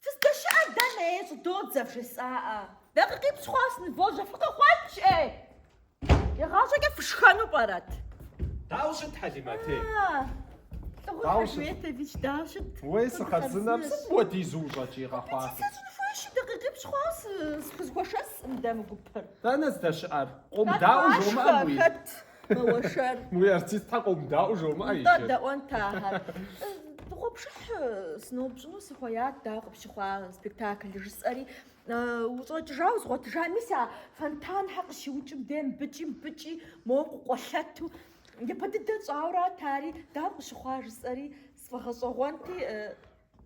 Фыздэщыӏэр дэнэ, ей, щӏыдодзэ, вжесӏаӏэ. Дакъикъипщӏ хъуа сынывожьэ, фыкъыкъуэкӏ, ей! Игъащӏэкӏэ фышхэну пӏэрэт? Дауэ щыт, Хьэлимэтей? Лӏыгъур Дауэ щыт? Хьэлметович, дауэ щыт? Уей, сыхъарзынэщ сыт Къэбзэщ. мыпхуэдизу ущӏэкӏийр, къэхъуафи? Сыщӏын хуейщи, дакъикъипщӏ хъуа сы- схузэхуэшэсӏым мыдэ мы гупыр? Дэнэ здэщыӏэр? Къомыдаӏуэ жомыӏэ, Натӏашхэ, абы и? хэт? Мэуэршэр. Уи артистхэ къомыдаӏуэ жомыӏэ иджы. Нтӏэ дэӏуэнт ахэр. Дыгъуэпшыхь сыноупщӏыну сыхуеят дауэ къыпщыхъуа спектаклыр жысӏэри, ущӏэкӏыжауэ згъуэтыжа, мис а фонтанхэр къыщиукӏым де мыбыкӏи мыбыкӏи моуэ къыкъуэлъэту, япэ дыдэ тщӏауэрат ари, дауэ къыщыхъуа жысӏэри сфӏэгъэщӏэгъуэнти,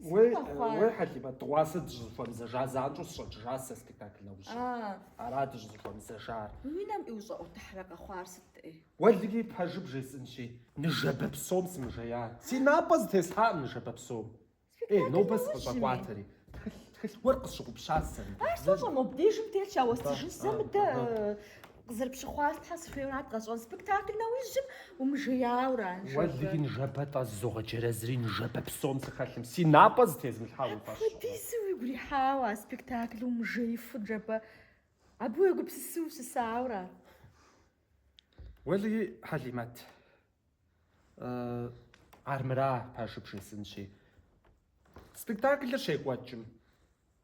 Уей, Сыт къэхъуар? уей, Хьэлимэт, дыгъуасэ дыщӏызыхуэмызэжа занщӏэу сыщӏэкӏыжащ сэ спектакль нэужьым. А, Ара дыщӏызыхуэмызэжар. мы уи нэм ущӏэӏуэтыхьрэ къэхъуар сыт ӏей? Уэлэхьи, пэжыр бжесӏэнщи, ныжэбэ псом сымыжея. Си напӏэ зытесхьакъым ныжэбэ псом. Ей, Спектакль нобэ нэужьми. сыкъыщӏэкӏуатэри. Тхылъ, тхылъ гуэр къысщыгъупщащ сэ мыбы. Ар сэ сщӏэмэ, мобдежым телъщ, ауэ Абы, стыжын сэ а, мыдэ. а. э, Къызэрыпщыхъуар Тхьэ сыхуейуэ арат къэсщӏэн. Спектакль нэужьым умыжеяуэ ара ныжэбэ. Уэлий ныжэбэ тӏэ зызогъэджэрэзри ныжэбэ псом сыхэлъым си напӏэ зытезымылъхьа уи фӏэщ хъурэ? Апхуэдизу уигу ирихьауэ а спектаклым умыжеифу ныжэбэ абы уегупсысу ущысаура? Уэлий Хьэлимэт, армыра пэжыр бжесӏэнщи, спектаклыр щекӏуэкӏым.